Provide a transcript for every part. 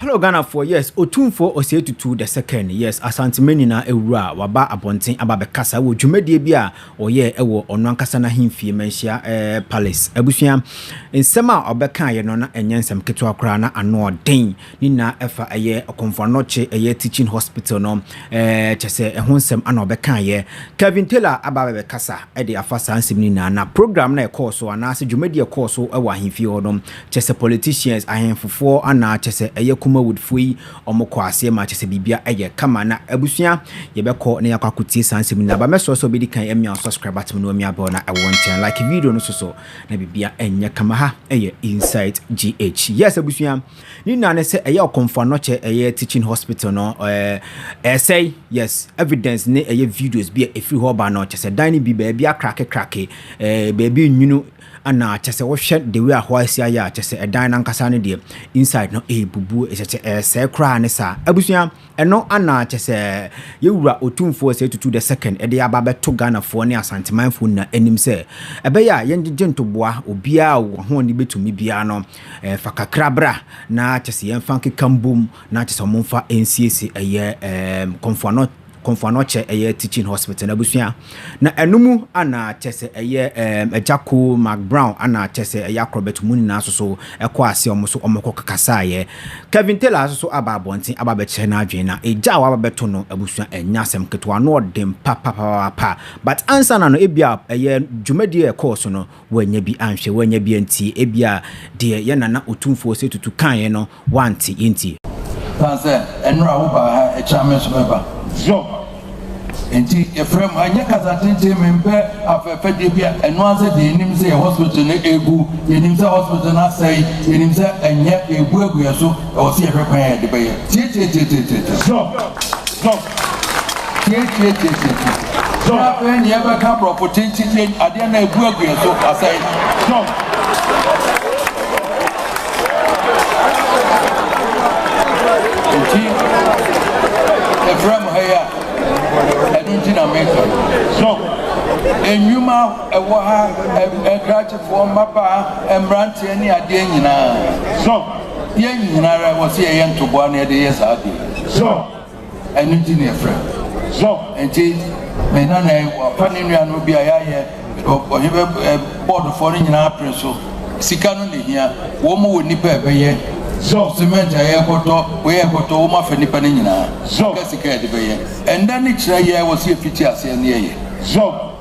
Hello Ghanafoɔ, yes, Otumfoɔ Osei Tutu the second, yes, Asantema nyinaa awura a waba abɔnten aba bɛkasa wɔ dwumadie bi a ɔyɛ wɔ ɔno ankasa n'ahemfie Manhyia eh, Palace. Abusua, nsɛm a ɔbɛkaeɛ no na ɛnyɛ nsɛm ketewa koraa na ano ɔden. Ne nyinaa ɛfa ɛyɛ Okomfo Anokye ɛyɛ Teaching Hospital no ɛɛ kyɛ sɛ ɛho nsɛm ana ɔbɛkaeɛ. Kevin Taylor aba abɛbɛkasa ɛde afa saa nsɛm no nyinaa na program na ɛkɔɔ so anaasɛ dwumadi a ɛkɔɔ so ɛwɔ ahemfie hɔ no kyɛ sɛ politicians, ahemfofoɔ ana kyɛ sɛ ɛyɛ Kumawoodfoɔ yi wɔn kɔɔ aseɛ ma kyɛ sɛ biribia ɛyɛ kama na abusua yɛbɛkɔ na yɛakɔ akɔtie saa nsɛm no nyinaa ba mɛsrɛ sɛ ɔbɛdi kan ɛmia wo subscribe button no ɛmia bell na ɛwɔ nkyɛn like video no soso na biribia ɛnyɛ kama ha ɛyɛ Insight GH. Yes abusua. Ne nyinaa ne sɛ ɛyɛ ɔkomfoano kyɛ ɛyɛ teaching hospital no ɛɛ ɛsɛe yes evidence ne ɛyɛ videos bi a ɛfiri hɔ ba no kyɛ sɛ dan no bi baabi akrake krake ɛɛ baabi nwunu ana kyɛ sɛ wohwɛ the way a hɔ asi ayɛ a kyɛ sɛ ɛdan no ankasa no deɛ inside no ɛɛbubu kyɛ sɛ ɛɛsɛe koraa ne saa abusua Ɛno ana kyɛ sɛ yɛwura Otumfoɔ Osei Tutu the Second de aba abɛto Ghanafoɔ ne Asantemanfoɔ nyinaa anim sɛ ɛbɛyɛ a yɛngyegye ntoboa obiara a ɔwɔ ho a ɔde bɛtumi biara no fa kakra bra na kyɛ sɛ yɛmfa nkeka mbom na kyɛ sɛ wɔmfa nsiesie ɛyɛ Komfo Anokye ɛyɛ Teaching Hospital no abusua Na ɛno mu ana kyɛsɛ ɛyɛ ɛɛm agya Cole McBrown ana kyɛsɛ ɛyɛ acrobat mu nyinaa soso ɛkɔ ase ɔmo so ɔmo kɔ kakasaeɛ Kevin Taylor asoso aba abɔnten aba abɛkyerɛ n'adwene na egya a waba bɛto no abusua ɛnyɛ asɛm ketewa ano ɔden papapapaapa but ansana no ebia ɛyɛ dwumadie a ɛkɔɔ so no w'anya bi anhwɛ w'anya bi antie ebia deɛ yɛn Nana Otumfoɔ Osei Tutu kaeɛ no Woante, yentie. Osian sɛ mber a wobaa ha kyɛn me so mɛba. Ziob. Ntsi efrɛ mu, annyɛ kasa tsentsen, memmpɛ afɛfɛdze bi a noara dze yenyim sɛ yɛ hospital no ebu, yenyim sɛ hospital no asɛe, yenyim sɛ nnyɛ yeebuebue so, ɔwɔ sɛ yɛhwɛ kwan a yɛdze bɛyɛ. Tsie tsie tsie tsie tsie tsie. Ziob. Ziob. Tietietie-tietie-tie. Jump. Afei nea ɛbɛka aborɔfo kyenkyenkyen adeɛ na ɛgu agu yɛn so asɛe. Jump. Nti ɛfrɛ mo ha yi a ɛno nti na meka no. Jump. Nnwuma ɛwɔ ha ɛkrakyefoɔ mmabaa mmeranteɛ ne adeɛ nyinaa. Jump. Yɛn nyinara wɔ sɛ yɛyɛ ntoboa na yɛde yɛ saa adeɛ. Jump. Ɛno nti na yɛfrɛ no Zɔb. Enti me nana yi, wafa ne nuanom bi a yɛayɛ ɔhene bɛ ɛ bɔɔdofoɔ no nyinaa apere so. Sika no na ɛhia. Wɔn wɔ nnipa a ɛbɛyɛ Zɔb. Semɛnt a yɛrekɔtɔ, wei a yɛrekɔtɔ, wɔn afa nnipa no nyinaa. Zɔb. Sika sika a yɛde bɛyɛ. Ɛnnɛ ne kyerɛ yɛ a ɛwɔ sɛ yɛfiti aseɛ na yɛyɛ. Zɔb.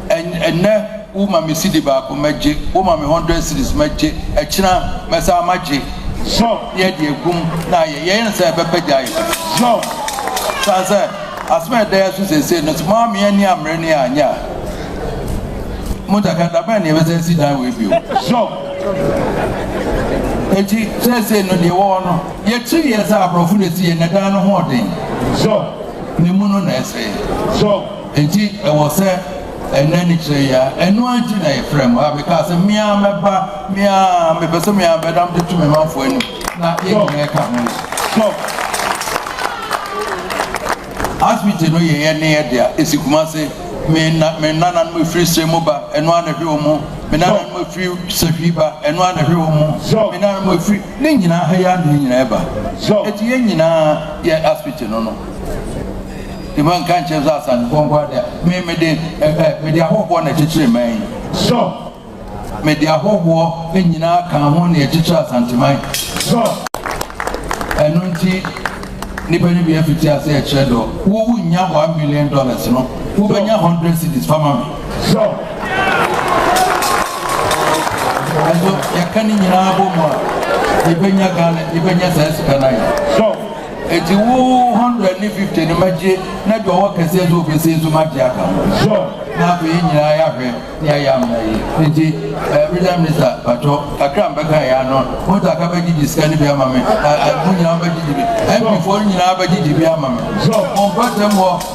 Ɛnnɛ wo ma me sidi baako mɛgye wo ma me hundred cities mɛgye ɛkyina mɛsan magye zɔ ne yɛde egum na ayɛ yɛyɛ ne sɛ ɛbɛpɛ gya ayɛ zɔ san sɛ asɛm a ɛda yɛ so sɛsɛ no sɛ mo ame ani amere ne anyɛ a mo daka dabɛn ne yɛbɛsɛ si dan wɔ ebio zɔ eti sɛsɛ no deɛ wɔwɔ no yɛkyiri yɛ sɛ aborɔfo na esi yɛ na dan no ho ɔden zɔ. ne mu no na ɛsɛe. So enti ɛwɔ sɛ ɛna ani kyerɛ yi ara? Ɛno ara nti na yɛfrɛɛ mo. A Mekaa sɛ, Me ara mɛba, me ara, mepɛ sɛ me ara mɛda mede to me manfoɔ anim, na yɛn nyinaa ka ho. So asibiti no yɛ yɛn ne yɛn dea, ɛsi Kumase. Me na, me nananom ɛfiri Sirem mu ba, ɛno ara na ɛhwɛ wɔn mu. Me nananom ɛfiri Sahwi ba, ɛno ara na ɛhwɛ wɔn mu. Me nananom ɛfiri, ne nyinaa, ha yi ara na ne nyinaa ɛba. Enti yɛn nyinaa. yɛ asopiti no no de ma nka nkyerɛ sɛ asasefoɔ nko ara dea me mede ɛɛ mede ahohoɔ na ɛkyekyere man yi sɔ mede ahohoɔ nyinaa ka ho na ɛkyekyere asanteman sɔ ɛno nti nipa no bi afiti ase ɛkyerɛ dɔ wowu nya one million dollars no wobɛnya hundred cities fama me Sure. Nanso yɛka ne nyinaa bɔ mu a yɛbɛnya Ghana yɛbɛnya saa sika no ayɛ. Sure. Eti wo hundred ne fifty ne magye na deɛ ɔwɔ kɛseɛ so obese nso magye aka ho. Sure. Na afei yɛn nyinaa yɛahwɛ ne ayɛ amena yi. Eti ɛɛ eh, regional minister patɔ kakra mbɛka yɛ ano mo ta ka bɛgyegye sika no bi ama me. Ɛɛ eh, eh, mo nyinaa bɛgyegye bi. MP foɔ nyinaa bɛgyegye bi ama me. Sure. Mo mpɛsɛm wɔ.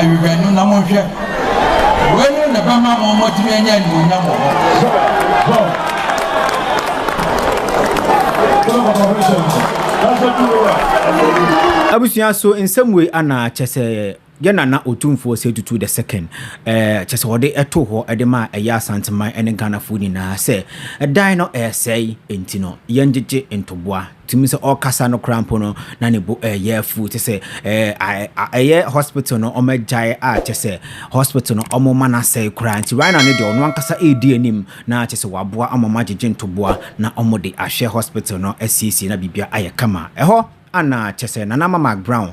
Awiban no na monhwɛ. Weinom na ɛbɛma mo moatumi anya animuonyam wɔ hɔ. Abusua so nsɛm wei ana kyɛ sɛ yɛ nana otumfoɔ sɛ tutu the second ɛɛ kyɛ sɛ wɔde ɛto hɔ ɛde ma ɛyɛ asanteman ɛne ghanafoɔ nyinaa sɛ ɛdan no ɛɛsɛe nti no yɛn gyegye ntoboa tumi sɛ ɔrekasa no koraa mpo no na ne bo ɛyɛ afu kyɛ sɛ ɛyɛ hospital no wɔn agyae a kyɛ sɛ hospital no wɔn ma n'asɛe koraa nti right now ne deɛ ɔno ankasa ɛredi anim na kyɛ sɛ waboa ama wɔn agyegye ntoboa na wɔn de ahwɛ hospital no asiesie na biribiara ayɛ kama ɛhɔ ana kyɛ sɛ Nana Mamak Brown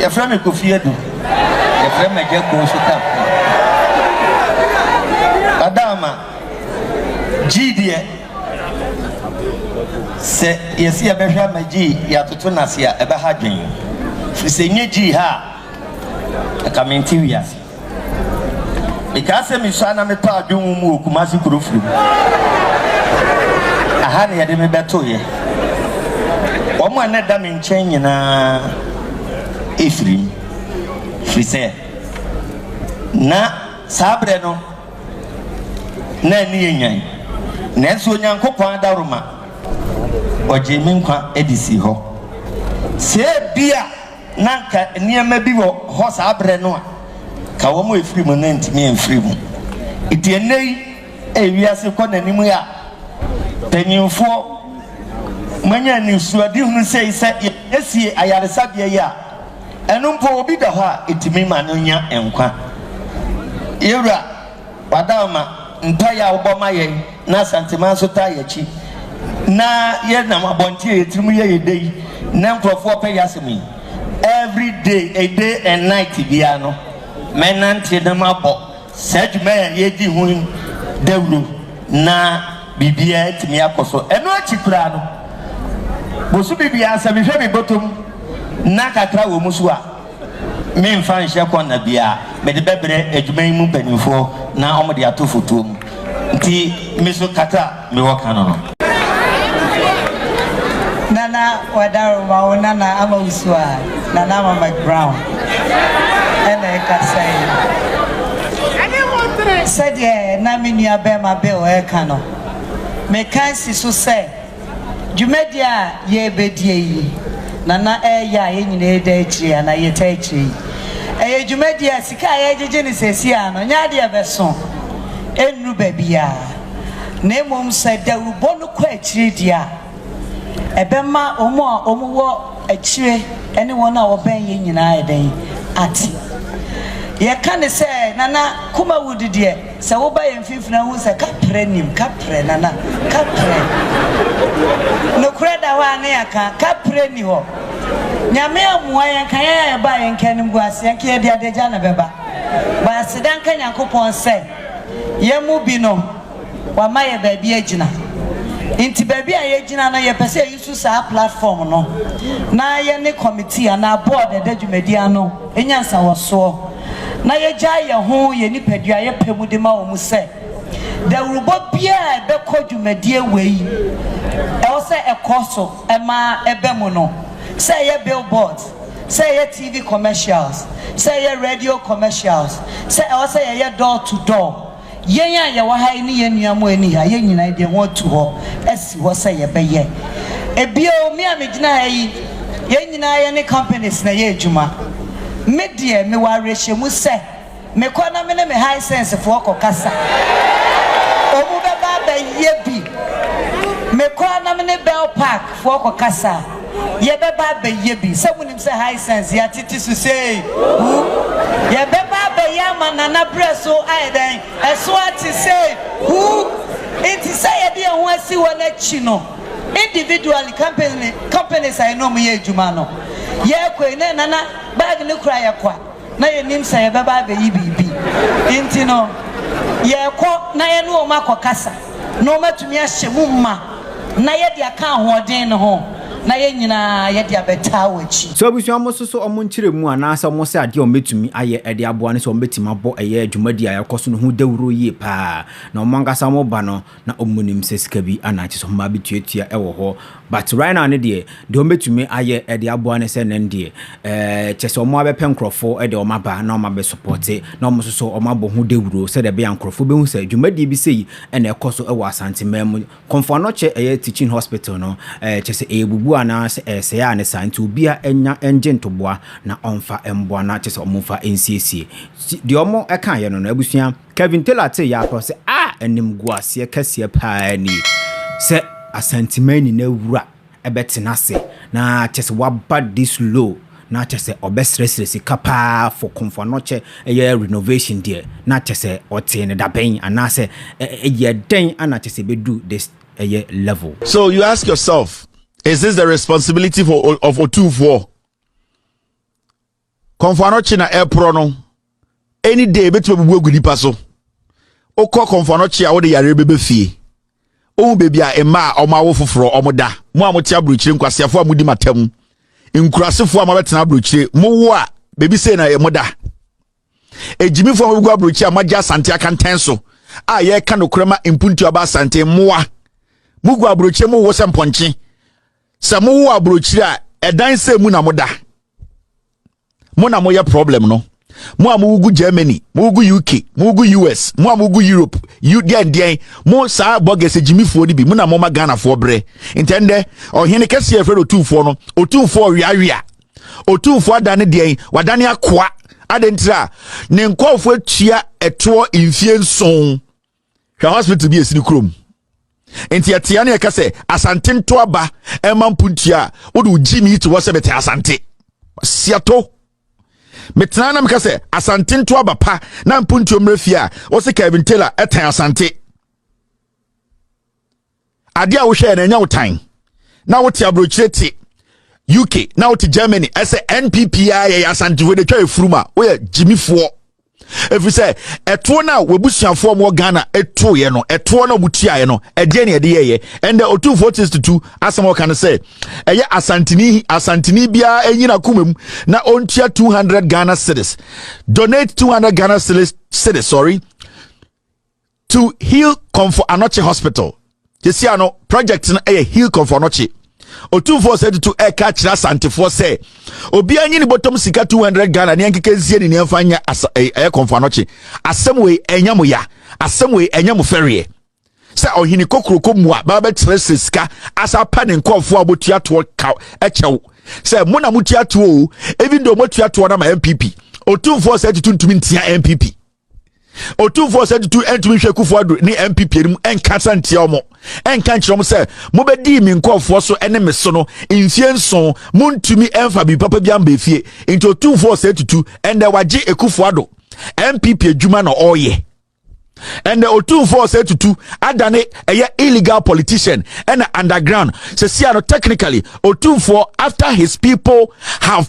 Yɛfrɛ me Kofi Adu. Yɛfrɛ me Agya Kuo nso ka ho. Ɔdaama, Gyii deɛ, sɛ yɛse yɛbɛhwɛ ama Gyii yɛatoto no ase a, ɛbɛha adwene. Firi sɛ ɛnyɛ Gyii ha a, anka mente wiase. Mekaa sɛ misua na metɔɔ adwo nwom mu wɔ Kumasi kuro firi mu. Aha na yɛde me bɛtoeɛ. Wɔn a na ɛda me nkyɛn nyinaa firi mu, firi sɛ na saa berɛ no na ani yɛ nyan. Nanso Onyankopɔn adaworoma, ɔgyee me nkwa de sii hɔ. Sɛ ebia. Na anka nneɛma bi wɔ hɔ saa berɛ no a anka wɔn a ɛfiri mu no antumi amfiri mu. Nti ɛnnɛ yi a ewiase kɔ n'anim yi a, mpanimfoɔ moanya anisoadehunu sei sɛ yɛsiesie ayaresabea yi a, ɛno mpo obi da hɔ a ɛtumi ma no nya nkwa. Yɛwura. Wadawma, mpaeɛ a wobɔ ma yɛn na Asanteman nso taa yɛn akyi na yɛnam abɔnten a yɛn tiri mu yɛ yɛn dɛ yi na nkorɔfoɔ pɛ yɛn asɛm yi every day a day and night biara no mɛnante na mabɔ saa dwuma a yɛredi ho yi dawuro na biribiara atumi akɔ so. Ɛno akyi koraa no bosome biara sɛ mehwɛ me bɔtɔ mu na kakra wɔ mu nso a, Meremfa nhyɛ kɔ nna bi a mede bɛbrɛ adwuma yi mu mpanimfoɔ na wɔde ato fotoɔ mu nti, me so kata a mewɔ ka no no. Nana Wadaro ma wo Nana ama wo su a, Nana Ama McBrown na ɛkasa yi. Sɛdeɛ na me nuabarima Bill reka no, meka asi so sɛ. Dwumadie a yɛrebɛdie yi, Nana ɛreyɛ a yɛn nyinaa reda akyire anaa yɛtaa akyire yi, ɛyɛ dwumadie a sika a yɛregyegye no seesei ara no, nyɛ adeɛ a ɛbɛso, ɛnnuru baabiara, na mmom sɛ dawurubɔ no kɔ akyire deɛ a, ɛbɛma wɔn a wɔwɔ akyire ne wɔn a wɔbɛn yɛn nyinaa ayɛ dɛn? Ate. Yɛka no sɛ, Nana Kumawudu deɛ, Sɛ woba yɛn mfimfini a, wohu sɛ kaprɛ nnim, kaprɛ, Nana, kaprɛ. Nokorɛ da hɔ a ne yɛaka, kaprɛ nni hɔ. Nyame ammua yɛn, nka yɛn a yɛbaa yɛn nka animguaseɛ, nka yɛde adagya na ɛbɛba. But aseda nka Nyankopɔn sɛ, yɛn mu bi no, Wama yɛn baabi agyina. Nti baabi a yɛagyina no, yɛpɛ sɛ yɛusu saa platform no na yɛne committee anaa board a ɛda dwumadie ano nya nsawɔsoɔ. na yɛgyae yɛn ho yɛn nipadua a yɛpɛ mu de ma wɔn sɛ dawurubɔ biara a ɛbɛkɔ dwumadie wei ɛwɔ sɛ ɛkɔ so ma ɛba mu no, sɛ ɛyɛ billboards, sɛ ɛyɛ TV commercials, sɛ ɛyɛ radio commercials, sɛ ɛwɔ sɛ yɛyɛ door to door. Yɛn a yɛwɔ ha yi ne yɛn nua Moeni a yɛn nyinaa yɛde yɛn ho ato hɔ asi hɔ sɛ yɛbɛyɛ. Bio, me a megyina ha yi, yɛn nyinaa yɛne companies na ɛyɛ adwuma. Me deɛ, mewɔ awerɛhyɛmu sɛ mekɔ na me ne me Hisensefoɔ kɔkasa a, wɔbɛba abɛyɛ bi. Mekɔ na me ne Bell Park foɔ kɔkasa a. Yɛbɛba abɛyɛ bi. Sɛ wonim sɛ Hisense yɛatete so sei u, yɛbɛba abɛyɛ ama Nana berɛ so ayɛ dɛn? Ɛso ate sei u. Nti sɛ yɛde yɛn ho asi hɔ no akyi no, individually, company, companies a yɛne wɔn yɛ adwuma no, yɛrekɔ yi, na Nana bag no kura yɛn kwa. na yɛnnim sɛ yɛbɛba abɛyi biribi nti no, yɛrekɔ na yɛne wɔn akɔkasa na wɔatumi ahyɛ mu ma na yɛde aka ahoɔden no ho na yɛn nyinaa yɛde abɛtaa w'akyi. So abusua a wɔsoso wɔn nkyerɛmu anaasɛ wɔsɛ adeɛ a wɔbɛtumi ayɛ de aboa ne sɛ wɔbɛtumi abɔ ɛyɛ dwumadie a ɛrekɔ so no ho dawuro yie pa ara na wɔn ankasa wɔn ba no Na ɔmmu nim sɛ sika bi ana kyesɛ ɔmma bi tuatua ɛwɔ hɔ but right now ne deɛ deɛ ɔmɛ tumi ayɛ ɛde aboa ne sɛ nɛn deɛ ɛɛ kyesɛ ɔmɔ abɛ pɛ nkorɔfo ɛde ɔmɔ aba na ɔmɔ abɛ supporte na ɔmɔ soso ɔmɔ abɔ ho dawuro sɛdeɛ ɛbɛyɛ a nkorɔfo bɛ hu sɛ dwumadie bi sei ɛna ɛkɔ so ɛwɔ asante man mu kɔmfoa nɔkyɛ ɛyɛ teaching hospital no ɛɛ kyesɛ ɛyɛ bubu anaa sɛ ɛɛsɛe a ne saa nti obia ɛnya ɛngye ntoboa na ɔmfa ɛmboa na kyesɛ ɔmɔ mfa ɛnsiesie deɛ ɔmɔ ɛkaayɛ no no abusua. Kevin Taylor tee yɛ ara sɛ, Ah, animguaseɛ kɛseɛ pa ara nie sɛ Asanteman nyinaa wura bɛtena ase na kyerɛ sɛ waba this low na kyerɛ sɛ ɔbɛsrɛsrɛ sika pa ara for Komfo-Anokye ɛyɛ renovation deɛ na kyerɛ sɛ ɔtee no dabɛn anaasɛ ɛyɛ dɛn na kyerɛ sɛ ɛbɛdu this ɛyɛ level. So you ask yourself, is this the responsibility for, of Otumfoɔ? kɔnfoano kye na ɛreporɔ no any day ebetumi abubu agu nipa so wokɔ kɔnfoano kye a wode yareɛ bɛbɛ fie wohu baabi a mma a ɔmo awo foforɔ ɔmo da mo a mote aburokyire nkwaseafoɔ a modi matam nkurasefoɔ a moabɛtena aburokyire mowo a baabi sei na ɛmo da egyimifoɔ a mobɛgu aburokyire a moagye asante akantan so a yɛreka nokorɛ ma mpuntu aba asante mmoa mogu aburokyire mowo sɛ mpɔnkye sɛ mowɔ aburokyiri a ɛdan sɛ mu na moda mo na moyɛ problem no mo a mogu germany mogu uk mogu us mo a mogu europe u deɛn deɛn mo saa bɔgɛsɛ gyimifoɔ no bi mo na moma ghanafoɔ berɛ ntɛ ndɛ ɔhene kɛseɛ ɛfrɛ no ɔtumfoɔ no ɔtumfoɔ ɔweawea ɔtumfoɔ ada ne deɛn wadane akoa adɛntira ne nkɔɔfoɔ atua ɛtoɔ mfie nson hwɛ hospital bi a ɛsi ne kurom nti ɛtea ne ɛka sɛ asante nto aba ɛma mpontua a wode wo gyi me to hɔ sɛ mete asante siato metena na meka sɛ asante nto aba pa na mpontua mmerɛ fie a wɔse kevin taylor ɛtɛn asante Adeɛ a wohwɛɛ no ɛnyɛ wo tan na wote aburokyire te UK na wote Germany ɛsɛ NPP a yɛyɛ asantefoɔ de twa efurum a woyɛ gyimifoɔ ɛfiri sɛ ɛtoɔ no a wabusuafoɔ ɔmo wɔ Ghana ɛtoeɛ no ɛtoɔ no a wɔtuaeɛ no ɛdeɛ ne ɛde yɛyɛ ɛndɛ ɔtumfoɔ testitutu asɛm a ɔka no sɛ ɛyɛ asantini asantini biara ɛnyina koma mu na ɔntua 200 Ghana cedis donate 200 Ghana cedis sorry to heal Komfo Anokye Hospital. Sisi ano project no yɛ heal Komfo Anokye. Otumfoɔ sɛ tutu ɛka kyerɛ asantefoɔ sɛ obiara nyi ne bɔtɔm sika 200 Ghana ne nkeke nsie ne nneɛmfa nyɛ ɛyɛ eh, eh, Komfo Anokye. Asɛm wei ɛnyɛ mo ya, asɛm wei ɛnyɛ mo fɛreɛ. Sɛ ɔhene kokuroko mu a baa bɛkyerɛsɛ sika asa pa ne nkɔɔfoɔ a wɔtua toɔ ka ɛkyɛw sɛ mo na motua toɔ o even though motua toɔ no ma MPP. Otumfoɔ sɛ tutu ntumi ntia MPP. ɔtumfoɔ sɛ tutu ntumi nhwɛ kufu ado ne npp anim nka sa ntia wɔn nka nkyerɛ wɔn sɛ mobɛdii me nkɔɔfoɔ so ne me so no mfie nson montumi mfa biribi papa bi amba efie nti ɔtumfoɔ sɛ tutu ɛndɛ wagye ekufu ado npp adwuma na ɔreyɛ ɛnna otumfoɔ sɛ tutu adane ɛyɛ illegal politician ɛna underground sɛsia no technically otumfoɔ after his people have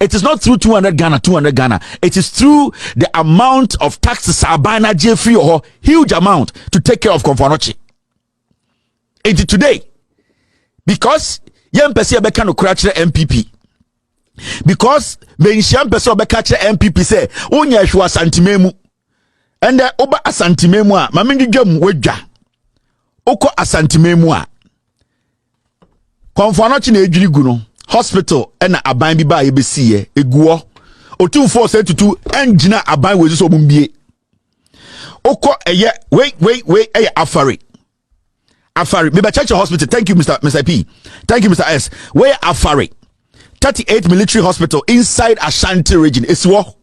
It is not through 200 Ghana, 200 Ghana. It is through the amount of taxes aban na gye free hɔ, huge amount to take care of Komfanochi. And today, because yɛn mpɛ sɛ yɛbɛka no kora kyerɛ MPP. Because benhyia mpɛ sɛ ɔbɛka kyerɛ MPP sɛ wonyɛ ɛhwɛ asantema mu. Ɛndɛ woba asantema mu a, ma mendwedwa mu wadwa. Wokɔ asantema mu a, kɔmfoanɔkye na ɛdwiri gu no hospital ɛna aban bi baa yɛbɛsiiɛ ɛguɔ ɔtumfoɔ sɛ tutu ɛngyina aban wɔ ɛsi sɛ ɔmombie wokɔ ɛyɛ wei wei wei ɛyɛ afare afare mebɛkyɛkyɛ hospital thank you mr mr p thank you mr s wei afare 38 military hospital inside ashanti region ɛsi wɔ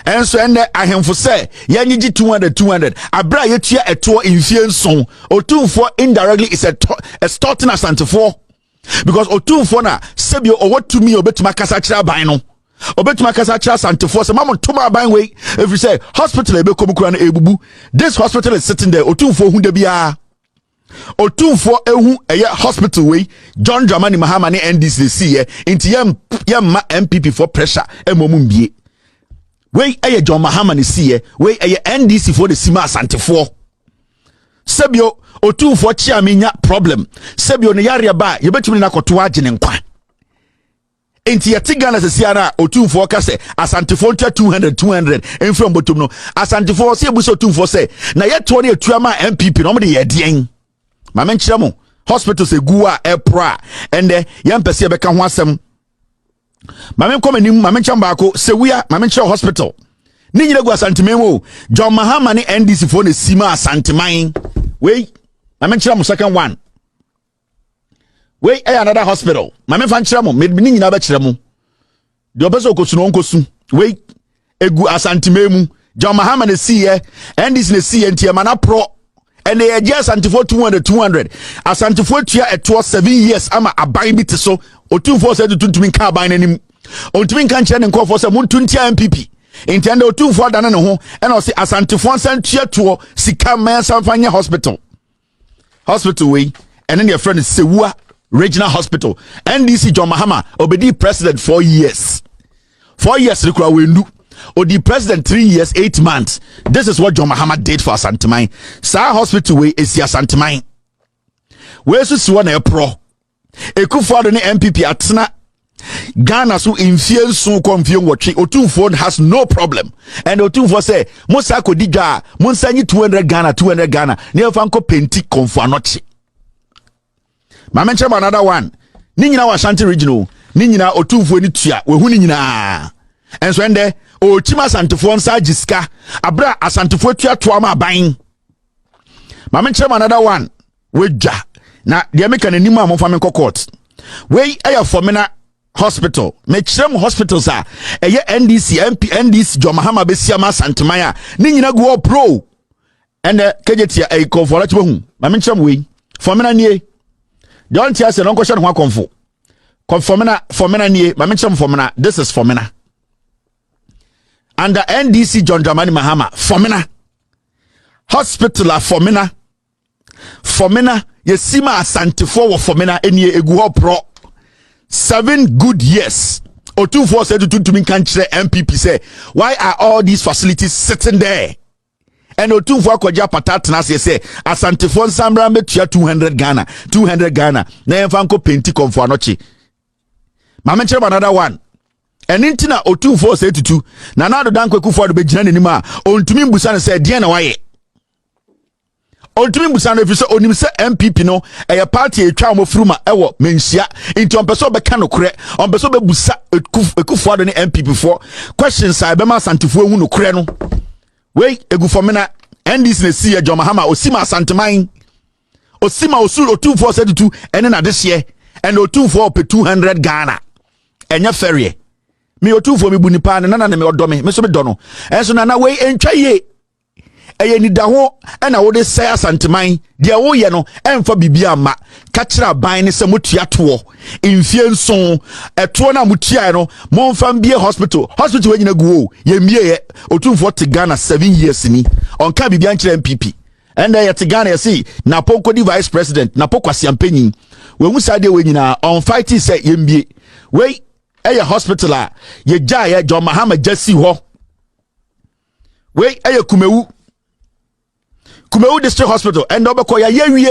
ɛnso ɛnɛ ahemfo sɛ yɛnyegye 200 200 abere a yɛtua ɛtoɔ mfie nson ɔtumfoɔ indirectly is extorting asantefoɔ because ɔtumfoɔ na sɛbi ɔwɔ tumi a ɔbɛtumi akasa kyerɛ aban no ɔbɛtumi akasa kyerɛ asantefoɔ sɛ mamu tom aban wei ɛfiri sɛ hospital a ɛbɛkɔ mu kora no ɛbubu this hospital is sitting there ɔtumfoɔ hu da biara Otumfoɔ ehu ɛyɛ hospital wei John Dramani Mahama ne NDC de si yɛ nti yɛ yɛ mma NPP foɔ pressure ɛmɔ mu mbie wei ɛyɛ John Mahama ne si yɛ wei ɛyɛ NDC foɔ de si ma asantefoɔ sɛbio otumfoɔ kyeame nya problem sɛbio ne yareɛ ba yɛbɛtumi ne nakɔto agye ne nkwa Enti yɛte Ghana sɛsi ara a Otumfoɔ ka sɛ Asantefoɔ ntua 200 200 mfiri wɔn bɔtom no. Asantefoɔ sɛ yɛbu sɛ Otumfoɔ sɛ na yɛtoɔ no yɛtua ma NPP no wɔn de yɛ ɛdeɛn? Ma menkyerɛ mo hospitals ɛgu a ɛporɔ a ɛndɛ yɛmpɛ sɛ yɛbɛka ho asɛm. Ma menkɔ m'anim ma menkyerɛ mo baako Sewia ma menkyerɛ hospital. Ne nyina gu Asanteman mu o. John Mahama ne NDC foɔ na ɛsi ma Asanteman. Wei ma menkyerɛ mo second one. wei ɛyɛ another hospital maame fa nkyerɛ mo mede ne nyinaa bɛkyerɛ mo deɛ ɔpɛ sɛ ɔkɔsu na ɔnkɔsu wei egu asantemaa mu john mahama na esiiɛ ndc na esiiɛ nti ɛma na porɔ ɛna yɛgye asantefoɔ two hundred two hundred asantefoɔ atua ɛtoɔ seven years ama aban bi te so otumfoɔ sɛ tutu ntumi nka aban n'anim ɔntumi nka nkyerɛ ne nkɔfoɔ sɛ monto ntia mpp nti ɛnna otumfoɔ adane ne ho ɛna ɔse asantefoɔ nsa ntua toɔ sika mmaa nsa nfa nyɛ hospital hospital wei ɛne ne yɛfrɛ no sewua regional hospital ndc john mahama ɔbɛdii president four years four years no kora wɔndu ɔdi president three years eight months this is what john mahama did for asanteman saa hospital wei ɛsi asanteman wei nso si hɔ na ɛporɔ Ekufu Ado ne NPP atena Ghana so mfie nson kɔ mfie nwɔtwe otumfoɔ has no problem and otumfoɔ sɛ mo sa kɔdi dwa a mo nsa nyi 200 Ghana 200 Ghana ne ɛfa nkɔ penti kɔnfo anɔkye maame nkyɛn mu another one ne nyinaa wɔ Ashanti region o ne nyinaa otumfoɔ ni tua wahu ne nyinaa ɛnso ɛndɛ ɔɔkyim asantefoɔ nsa agye sika abere a asantefoɔ atuatoa ma aban maame nkyɛn mu another one W'adwa. Na deɛ meka no anim a momfa me nkɔ court. Wei ɛyɛ Fɔmena hospital. Mekyerɛ mu hospitals a ɛyɛ NDC, MP, NDC, John Mahama bɛsia ma Asanteman a ne nyina gu hɔ pro. Ɛnɛ kɛgyetia ɛyi kɔmfo ara kyebɛhu. Ma menkyerɛ mu wei. Fɔmena nie. Deɛ ɔnte aseɛ no ɔnkɔhyɛ ne ho akɔmfo. Fɔmena, Fɔmena nie. Ma menkyerɛ mu Fɔmena. This is Fɔmena. Under NDC John Dramani Mahama. Fɔmena. Hospital a Fɔmena. Fɔmena yɛsi ma asantefoɔ wɔ fɔmena ɛnie ɛgu hɔ porɔ seven good years ɔtumfoɔ sɛ tutuntumi nka nkyerɛ mpp sɛ why are all these facilities sitting there ɛna ɔtumfoɔ akɔgye apata atena aseɛ sɛ asantefoɔ nsanbra bɛtua 200 ghana 200 ghana na yɛmfa nkɔ penti kɔmfo anɔkye maame nkyerɛ m another one ɛne nti na ɔtumfoɔ sɛ tutu na na adodankwakufoɔ ado bɛgyina n'anim a ɔntumi mbusa no sɛ deɛ na wayɛ ɔntumi mbusa no ɛfiri sɛ ɔnim sɛ npp no ɛyɛ party a ɛtwa wɔn firi ma ɛwɔ manhyia nti ɔmpɛ sɛ ɔbɛka nokorɛ ɔmpɛ sɛ ɔbɛbusa ɛkufoɔ ado ne npp foɔ questions a ɛbɛma asantefoɔ ahu nokorɛ no wei ɛgu fɔmena ndc na ɛsi yɛ John Mahama ɔsi ma asanteman ɔsi ma ɔsu ɔtumfoɔ sɛ tutu ɛne n'adehyeɛ ɛna ɔtumfoɔ ɔpɛ 200 Ghana ɛnyɛ fɛreɛ me ɔtumfoɔ mebu nipa ne nana ne me ɔdɔ me me so medɔ no ɛnso nana wei ɛntwa yie ɛyɛ nidaho na wode sɛe asanteman deɛ woyɛ no ɛmfa biribi amma ka kyerɛ aban ne sɛ motua toɔ mfie nson ɛtoɔ no a motuaeɛ no momfa mbie hospital hospital wanyina gu o yɛmmieɛ ɔtumfoɔ te ghana seven years ni ɔnka biribi ankyerɛ mpp ɛnna yɛte ghana yɛse napo nkɔdi vice president napo kwaseampanyin wahu saa deɛ wei nyinaa ɔnfaite sɛ yɛmbie wei ɛyɛ hospital a yɛgyaeɛ john mahama gya si hɔ wei ɛyɛ kumawu kumawu district hospital ɛnna ɔbɛkɔ yɛayɛ wie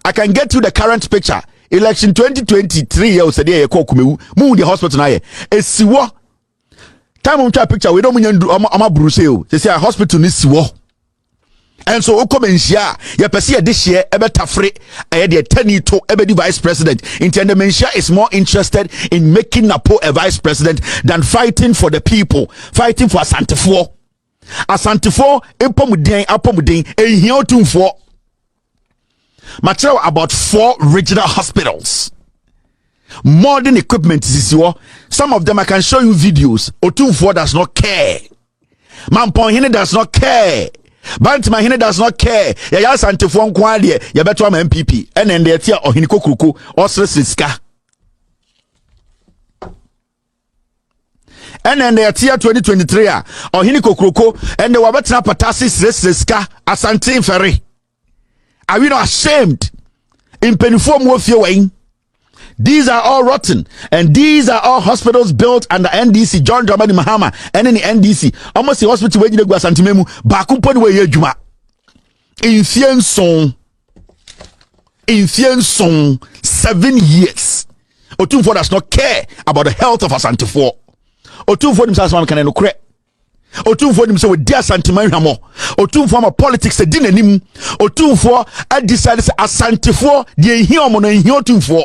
i can get you the current picture election 2023 yɛ ɔsɛdeɛ yɛkɔ kumawu mu deɛ hospital no ayɛ ɛsi wɔ time ɔmtwa picture wei dɛ ɔmnya ndu ɔma bruse o sɛsi a hospital no si wɔ Ɛnso wokɔ manhyia a yɛpɛ sɛ yɛde hyeɛ ɛbɛtafere ɛyɛ deɛ tani to ɛbɛdi vice president nti ɛnɛ manhyia is more interested in making Napo a vice president than fighting for the people fighting for asantefoɔ asantefoɔ mpɔmuden apɔmuden ɛnhia otumfoɔ makyerɛw about four regional hospitals modern equipment sisi hɔ some of them I can show you videos otumfoɔ does not care Mampɔn hene das no kɛɛ Bantama hene das no kɛɛ yɛyɛ asantefoɔ nko ara deɛ yɛbɛto ama MPP ɛna ɛnde ɛte a ɔhene kokuroko ɔseresere sika ɛna ɛnna ɛteɛ 2023 a ɔhene kokuroko ɛnna wabɛtena pata ase srɛsrɛ sika asante mfɛre Are we not ashamed? Mpanimfoɔ mu ofie wɔ yi. These are all rotten and these are all hospitals built under NDC John Dramani Mahama ɛne ne NDC wɔn si hospital wɔ agyina gu asantuma mu baako mpo ne wɔ ɛyɛ adwuma mfie nson mfie nson seven years Otumfoɔ does not care about the health of asantefoɔ Otumfoɔ nim sɛ asoma mekana nokorɛ otumfoɔ nim sɛ wɔdi asanteman hwammɔ otumfoɔ ama politics adi n'anim otumfoɔ adisade sɛ asantefoɔ deɛ nhia ɔmo no nhia otumfoɔ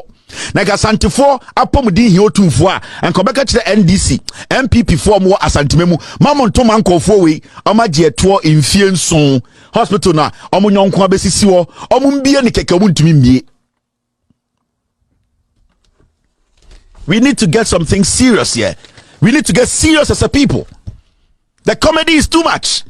na nka asantefoɔ apɔmuden hia otumfoɔ a nka ɔbɛka kyerɛ ndc npp foɔ ɔmo wɔ asantema mu ma mo nto ma nkɔɔfoɔ wei ɔmo agye ɛtoɔ mfie nson hospital na ɔmo nyɔnko abɛsisi hɔ ɔmo mbie ne kɛkɛ ɔmo ntumi mbie We need to get something serious here. We need to get serious as a people. The comedy is too much.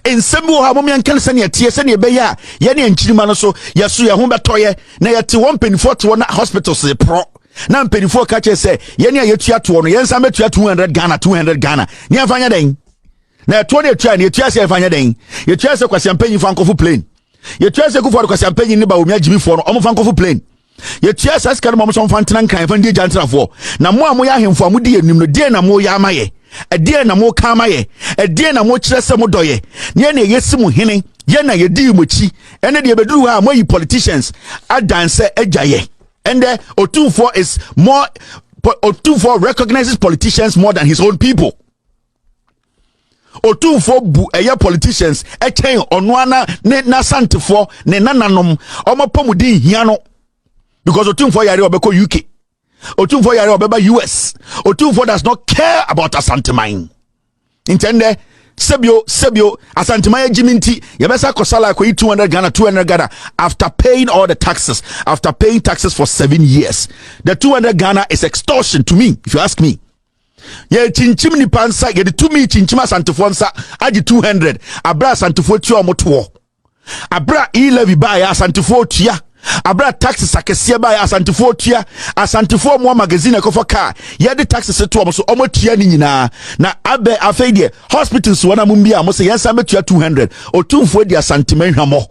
In bi wɔ hɔ a mom yɛnka no sɛneɛ teɛ sɛneɛ ɛbɛyɛ a yɛne nkyirima no so yɛso yɛ ho bɛtɔyɛ na yɛte wɔ mpanimfoɔ te wɔ na hospitals de porɔ na mpanimfoɔ ka kyerɛ sɛ yɛne a yɛtua toɔ no yɛnsan bɛtua 200 ghana 200 ghana ne yɛmfa nyɛ dɛn na ɛtoɔ ne ɛtua ne ɛtua sɛ ɛfa nyɛ dɛn yɛtua sɛ kwasiampanyin fa nkɔfo plane yɛtua sɛ kufuɔre kwasiampanyin ne ba wɔmi agyimifoɔ no ɔmo fa nkɔfo plane yɛtua saa sika no ma ɔmo sɛ ɔmfa ntena nkran ɛfa ndi agya ntenafoɔ na mo a moyɛ ahemfo a modi anim no deɛ na moyɛ ama yɛ ɛdeɛ na moka ama yɛ ɛdeɛ na mokyerɛ sɛ modɔ yɛ ne ɛne ɛyɛ si mo hene yɛ na yɛdii mo akyi ɛne deɛ ɛbɛduru hɔ a moayi politicians adansɛ agya yɛ ɛndɛ ɔtumfoɔ is more ɔtumfoɔ recognizes politicians more than his own people otumfoɔ bu ɛyɛ politicians ɛkyɛn ɔno ana ne n'asantefoɔ ne nananom wɔn apɔmuden hia no because otumfoɔ yare ɔbɛkɔ uk otumfoɔ yare ɔbɛba us otumfoɔ does not care about asanteman ntɛndɛ sɛbio sɛbio asanteman agyi mi nti yɛbɛsa akɔsala akɔyi two hundred ghana two hundred ghana after paying all the taxes after paying taxes for seven years the two hundred ghana is extortion to me if you ask me yɛrekyinkyim nipa nsa yɛde tumi kyinkyim asantefoɔ nsa agye 200 abere asantefoɔ tua wɔn toɔ abere a e-levy baeɛ asantefoɔ tua abere a taxes akɛseɛ baeɛ asantefoɔ tua asantefoɔ wɔn magazine ɛkɔfɔ kaa yɛde taxes to wɔn so wɔn tua ne nyinaa na abɛ afei deɛ hospitals wɔn a mo bi a mo sɛ yɛn nsa bɛtua 200 otumfoɔ di asantema nhwamɔ.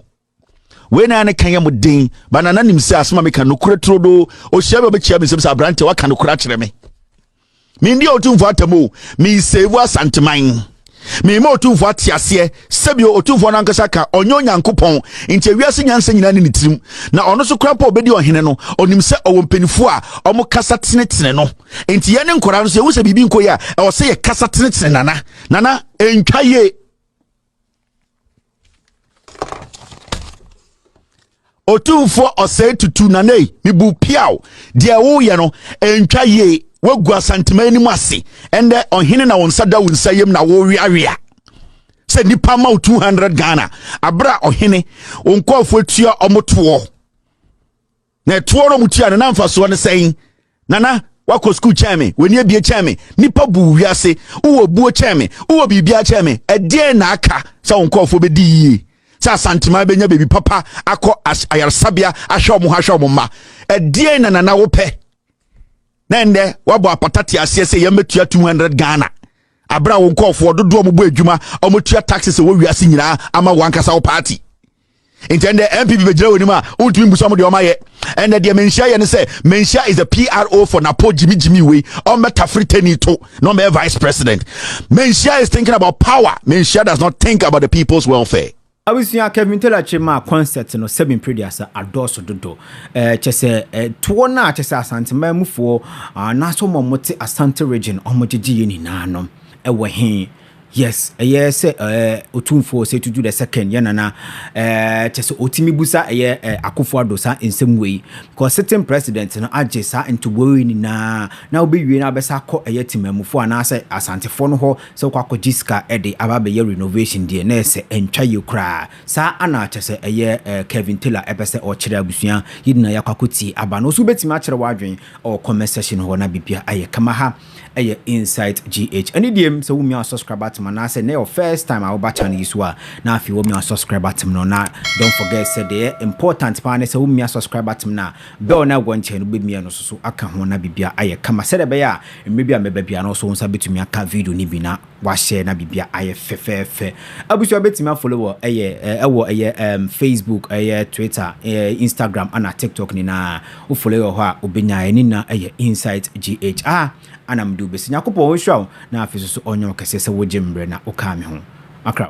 Wei na ne ka yɛ mo den, ba na nanim sɛ asɛm a meka nokorɛ turodoo. Ɔhyia bi a ɔbɛkyia me nsɛm sɛ aberanteɛ waka nokorɛ akyerɛ me. Mendi a ɔtumfo atam o, meiseivu asanteman. Meima ɔtumfo ate aseɛ sɛbio ɔtumfoɔ no ankasa ka ɔnyɛ Onyankopɔn nti wiase nyansa nyinaa ne ne tirim na ɔno so koraa mpo ɔbɛdi ɔhene no ɔnim sɛ ɔwɔ mpanimfoɔ a ɔmo kasa tenetene no nti yɛne nkɔraa no so yɛhu sɛ biribi nkɔ yi a ɛwɔ sɛ yɛkasa tenetene nana nana ɛntwa yie otumfoɔ ɔsɛe tutu nanei mebu piaw deɛ woyɛ no ɛntwa yie woagu asantema anim ase ɛndɛ ɔhene na wo nsa da wo nsa yam na woweawea sɛ nipa ma wo 200 ghana aberɛ a ɔhene wo nkɔɔfoɔ tua ɔmotoɔ Na ɛtoɔ no ɔmo tua no na mfasoɔ no sɛn? Nana wakɔ sukuu kyɛn me, w'ani abie kyɛn me, nipa bu wiase, wowɔ buo kyɛn me, wowɔ biribiara kyɛn me, ɛdeɛn na aka sɛ wo nkɔɔfoɔ bɛdi yie? Sɛ asanteman bɛnya baabi papa akɔ ayaresabea ahwɛ ɔmo ho ahwɛ ɔmo mma, ɛdeɛn na nana wopɛ? Na ɛndɛ wabɔ apata te aseɛ sɛ yɛn bɛtua 200 Ghana abere a wo nkɔɔfoɔ dodoɔ ɔmo bɔ adwuma ɔmo tua taxes ɛwɔ wiase nyinaa ama wankasa wo party. nti ɛndɛ npp bɛgyina wɔ anim a wontumi mbu sɛ ɔmo deɛ ɔmo ayɛ ɛndɛ deɛ manhyia yɛ ne sɛ manhyia is the pro for napo jimmy jimmy wei ɔmbɛtafere tani to na ɔmbɛyɛ vice president manhyia is thinking about power manhyia does not think about the people's welfare abusua kevin taylor kyerɛ maa concert no sɛbi mpreduasa adɔɔso dodo ɛɛ kyɛ sɛ ɛtoɔ no a kyɛ sɛ asanteman mufoɔ anaasɛ wɔn a wɔte asante region wɔn gyegye yɛ nyinaa no ɛwɔ he Yes, ɛyɛ sɛ ɛɛ Otumfoɔ sɛ Tutu the second yɛ nana ɛɛ kyɛ sɛ otumi busa ɛyɛ ɛɛ Akufo Addo saa nsɛm wei because sitting president no agye saa ntoboa wei nyinaa na wobɛwie na abɛsa akɔ ɛyɛ Temamufoɔ anaasɛ Asantefoɔ no hɔ sɛ wokɔ akɔgye sika ɛde aba abɛyɛ renovation deɛ na ɛsɛ ɛntwa yie koraa saa ana kyɛ sɛ ɛyɛ ɛɛ Kevin Taylor ɛpɛ sɛ ɔkyerɛ abusua yɛ nyinaa yɛakɔ akɔtie aba no nso wobɛtumi akyerɛ w'adwene ɛwɔ comment section hɔ na biribiara ayɛ kama ha ɛyɛ insight gh ɛne deɛ sɛ womia wa subscribe button anaasɛ na your first time a woba channel yi so a na afei womia wa subscribe button no na don't forget sɛ deɛ important paa ne sɛ womia subscribe button na bell na ɛwɔ nkyɛn no bɛmia no soso aka ho na bibia ayɛ kama sɛdeɛ ɛbɛyɛ a mmerɛ bi a mɛba bia no so wo nsa bɛtumi aka video no bi na Wahyɛ na biribiara ayɛ fɛfɛɛfɛ. Abusua wobɛtumi afolo wɔ ɛyɛ ɛwɔ ɛyɛ ɛm Facebook ɛyɛ Twitter ɛɛ Instagram ɛna TikTok nyinaa wofolo yɛ wɔ hɔ a wobɛnya yɛ ne nyinaa ɛyɛ Insight GH a ɛna mede wobɛsi. Nyankopɔn ɔnhyira wo na afei nso so ɔnyɛ wo kɛseɛ sɛ wogye mmerɛ na wokaa me ho. Makra.